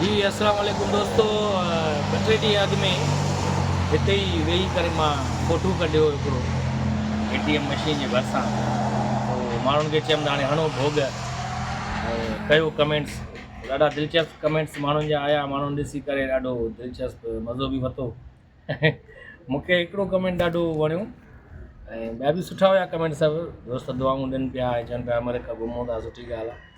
جي اسلام عليڪم دوستو ٻه ٽي ڏينهن اڳ ۾ هتي ئي ويهي ڪري مان فوٽو ڪڍيو هو هڪڙو اي ٽي ايم مشين جي ڀرسان پوء ماڻهن کي چيم ته هاڻي هڻو ڀوڳ ڪيو ڪمينٽس ڏاڍا دلچسپ ڪمينٽس ماڻهن جا آيا ماڻهن ڏسي ڪري ڏاڍو دلچسپ مزو به وتو مونکي هڪڙو ڪمينٽ ڏاڍو وڻيو ۽ ٻيا به سٺا هيا ڪمينٽ سڀ دوست دعائون ڏين پيا چون پيا عمر کان گهمون ٿا سٺي ڳالهه آهي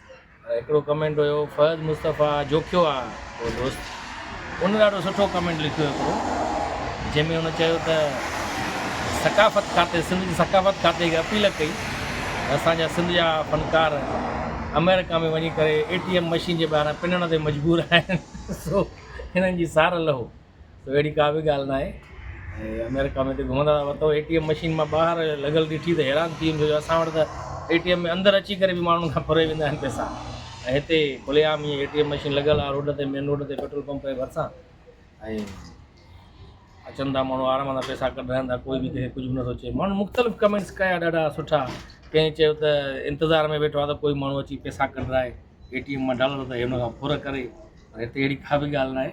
هڪڙو ڪمينٽ هيو فهد مصطفيٰ جوکيو آ اهو دوست ان ڏاڍو سٺو ڪمينٽ لکيو هڪڙو جنهن ۾ ان چيو ته ثقافت کاتي سنڌ جي ثقافت کاتي کي اپيل ڪئي اسان جا سنڌ جا فنڪار آمريڪا ۾ وڃي ڪري اي ٽي ايم مشين جي ٻاهران پنڻ تي مجبور آهن سو هنن جي سار لهو. سو اهڙي ڪا به ڳالهه ناهي ۽ آمريڪا ۾ هتي گهمندا هئا ته اي ٽي ايم مشين مان ٻاهر لڳل ڏٺي ته حيران ٿي ويم اسان وٽ ته اي ٽي ايم ۾ اندر اچي ڪري به ماڻهن کان ڦري ويندا آهن پئسا ۽ هتي کلي عام اي ٽي ايم مشين لڳل آهي روڊ تي مين روڊ تي پيٽرول پمپ جي ڀرسان ۽ اچن ٿا ماڻهو آرام سان پئسا ڪڍرائن ٿا ڪوئي به ڪنهن کي ڪجهه به نٿو چئي ماڻهن مختلف ڪمينٽس ڪيا ڏاڍا سٺا ڪنهن چيو ته انتظار ۾ ويٺو آهي ته ڪوئي ماڻهو اچي پئسا ڪڍرائي اي ٽي ايم مان ڊالر ته هن کان ڦر ڪري هتي اهڙي ڪا به ڳالهه ناهي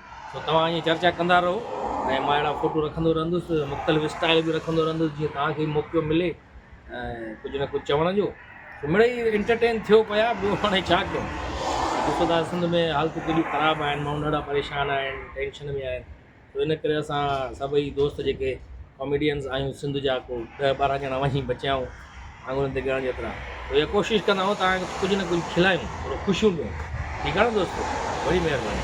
سو توهان ائين چرچا ڪندا رهو ۽ مان اهڙا فوٽو رکندو رهندس مختلف اسٽائل به رکندو رهندس جيئن توهان کي به موقعو ملي ڪجهه نه ڪجهه چوڻ جو مڙئي انٽرٽين ٿيو پيا ٻيو هاڻي ڇا ڪيون ڏسو ٿا سنڌ ۾ حالتون ڪيڏيون خراب آهن ماڻهو ڏاڍا پريشان آهن ٽينشن ۾ آهن سو ان ڪري اسان سڀئي دوست جيڪي ڪاميڊينس آهيون سنڌ جا ڪو ڏهه ٻارهن ڄڻا وڃي بچيا آهيون آڱرين تي ڳڻڻ جيترا سو اها ڪوشش ڪندا آهيون توهان کي ڪجهه نه ڪجهه کلائيون ٿورو خوشيون ڏيون ٺيڪ آهي نه دوستو وڏي مهرباني